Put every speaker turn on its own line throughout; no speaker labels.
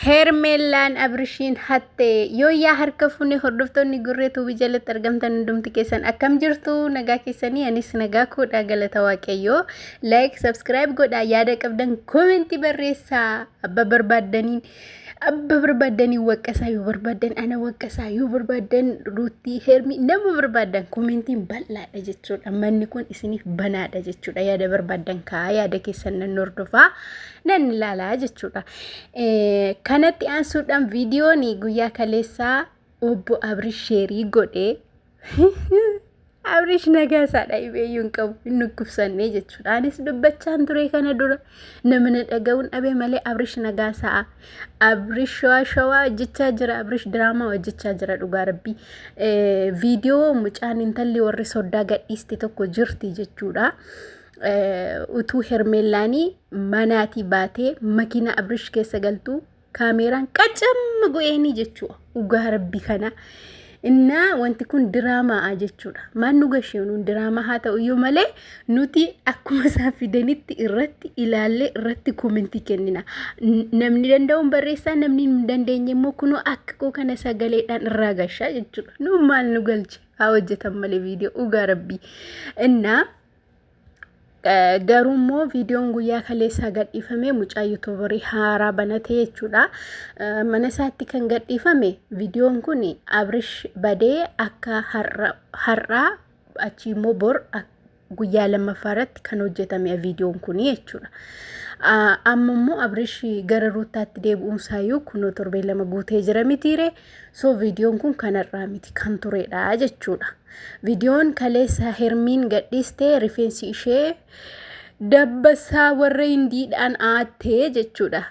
Heermeellaan Abrishiin hatte yooyyaa harka fuunee hordoftoonni gurree tuubii jalatti argamtan hundumti keessan akkam jirtu nagaa keessanii anis nagaa koodha galata waaqayyoo like subscribe godha yaada qabdan koomenti barreessaa abba barbaaddaniin abba barbaaddanii waqqasaa yoo barbaaddan ana waqqasaa yoo barbaaddan ruuttii heermii nama barbaaddan koomentiin bal'aadha jechuudha manni kun isiniif banaadha jechuudha yaada barbaaddan kaa yaada keessan nan hordofaa nan ilaala jechuudha. Kanatti aansuudhaan viidiyoon guyyaa kaleessaa obbo Abrish sheerii godhe. Abrish nagaa isaadha ibeeyyuu hin qabu hin dhukkubsannee jechuudha. Anis dubbachaan ture kana dura namni dhaga'uun dhabe malee Abrish nagaa isaa Abrish shawaa shawaa hojjechaa jira Abrish diraamaa hojjechaa jira dhugaa rabbii. Viidiyoo mucaan intalli warri soddaa gadhiiste tokko jirti jechuudha. utuu hermeellaanii manaatii baatee makiinaa abrish keessa galtuu kaameeraan qacamma go'eenii jechuudha dhugaa rabbi kana innaa wanti kun diraamaa jechuudha maal nu gasheenuun diraamaa haa ta'u iyyuu malee nuti akkuma isaan fidanitti irratti ilaallee irratti koomentii kennina namni danda'uun barreessaa namni hin dandeenye immoo kunoo akka koo kana sagaleedhaan irraa gashaa jechuudha nu maal nu galche haa hojjetan malee viidiyoo dhugaa rabbii innaa Garuu immoo viidiyoon guyyaa kaleessaa gadhiifame mucaa yuutuubarii haaraa banatee jechuudha. Mana isaatti kan gadhiifame viidiyoon kun Abrish badee akka har'aa achii immoo bor guyyaa lammaffaa irratti kan hojjetame viidiyoon kun jechuudha. Amma immoo Abrish gara ruuttaatti deebi'uun isaayyuu kunoo torbee lama guutee jira mitiiree. So viidiyoon kun kanarraa miti kan turedha jechuudha. Viidiyoon kaleessa Hermiin gadhiiste rifeensi ishee dabbasaa warra hindiidhaan aattee jechuudha.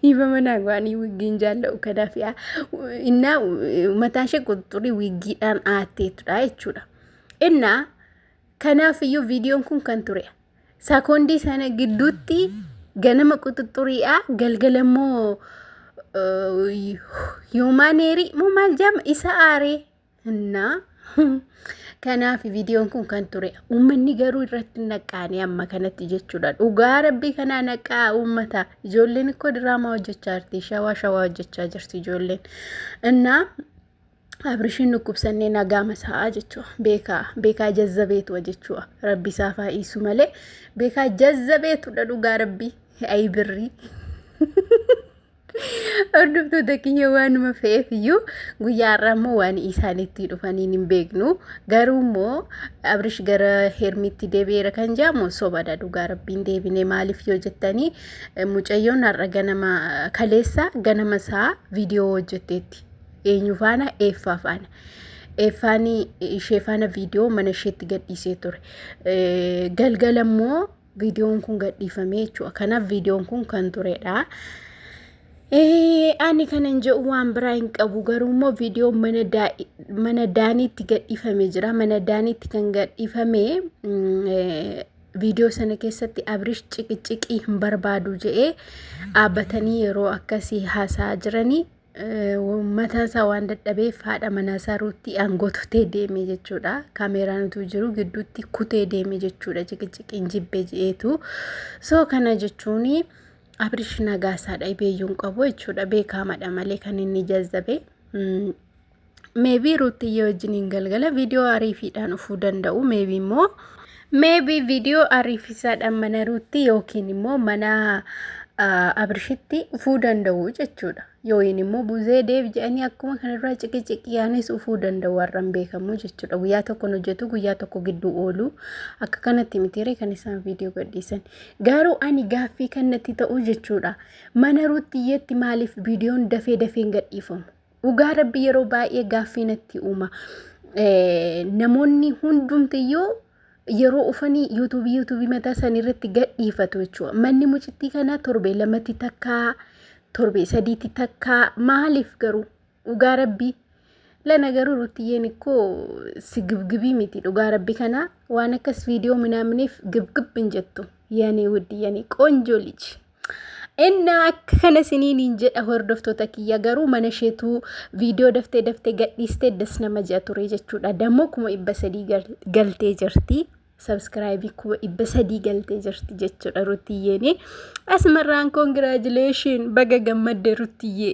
Ifa manaa waanii wiggiin jaalla'u kanaaf yaa innaa mataan ishee qunxurii wiggiidhaan aatteetudha jechuudha. Innaa kanaaf iyyuu viidiyoon kun kan turedha. Sakoondii sana gidduutti ganama quxuxxuriidha galgala immoo yuumaaneerii moo maal jedhama isa aaree innaa kanaaf viidiyoon kun kan ture uummanni garuu irratti naqqaanii amma kanatti jechuudha dhugaa rabbii kanaa naqqaa uummata ijoolleen ikkoo diraamaa hojjechaa jirti shawaa shawaa hojjechaa jirti ijoolleen innaa Abrishiin dhukkubsannee nagaama sa'aa jechuu beekaa beekaa jazzabeetu jechuu rabbi isaa faayisu malee beekaa jazzabeetudha dhugaa rabbi ayi birrii. Hordoftoota kiyya waanuma fe'eef iyyuu guyyaa har'aa immoo waan isaan itti dhufaniin hin beeknu garuu immoo abrish gara hermitti deebi'eera kan jedhamu sobadha dhugaa rabbiin deebine maaliif yoo jettanii mucayyoon har'a ganama kaleessa ganama isaa viidiyoo hojjetteetti. eenyu faana eeffaa faana eeffaan ishee faana viidiyoo mana isheetti gadhiisee ture galgala immoo viidiyoon kun gadhiifamee jechuudha kanaaf viidiyoon kun kan turedha. Ani kanan jedhu waan biraa hin qabu garuu immoo viidiyoon mana daaniitti gadhiifame jira mana daaniitti kan gadhiifame viidiyoo sana keessatti abrish ciqiciqii hin barbaadu jedhee dhaabbatanii yeroo akkasii haasaa jiranii mataan isaa waan dadhabeef haadha manaa isaa ruutti aangoo tutee deeme jechuudha. Kaameeraan utuu jiru gidduutti kutee deeme jechuudha. Ciqiciqiin jibbee je'eetu. Soo kana jechuun Abirish Nagaasaadha beeyyuun qabu jechuudha. Beekaamadha malee kan inni jazzabe. Meebii Ruuttiyyee wajjiniin galgala viidiyoo ariifiidhaan dhufuu danda'u. Meebii immoo meebii viidiyoo ariifisaadhaan mana Ruutti yookiin immoo mana Abirshitti dhufuu danda'u jechuudha. Yookiin immoo buzee deebi jedhanii akkuma kanarraa ciqiciqiyaanis dhufuu danda'u warran beekamu jechuudha. Guyyaa tokkoon hojjetu guyyaa tokko gidduu oolu akka kanatti mitiiree kan isaan viidiyoo gadhiisan. Garuu ani gaaffii kanatti ta'u jechuudha. Mana Ruuttiyyeetti maaliif viidiyoon dafee dafeen gadhiifamu? Dhugaa rabbi yeroo baay'ee gaaffii natti uuma. Eh, Namoonni hundumtiyyuu yeroo ufanii yuutuubii yuutuubii mataa isaanii irratti gadhiifatu jechuudha. Manni mucittii kanaa torbee lamatti takkaa, torbee sadiitti takkaa maaliif garuu dhugaa rabbii lana garuu ruttiyyeen ikkoo si gibgibii miti dhugaa rabbi kanaa waan akkas viidiyoo minaaminiif gibgib hin jettu. Yanii wuddi yanii qoonjoo liji. Innaa akka kana isiniin jedha hordoftoota kiyya garuu mana isheetuu viidiyoo daftee daftee gadhiistee das nama ji'a ture jechuudha. Dammoo kuma dhibba sadii galtee jirti. Sabskiraayibii kuma dhibba sadii galtee jirti jechuudha Rutiyyeeni. Asmarraan koongiraajileeshin baga gammadde Rutiyyee.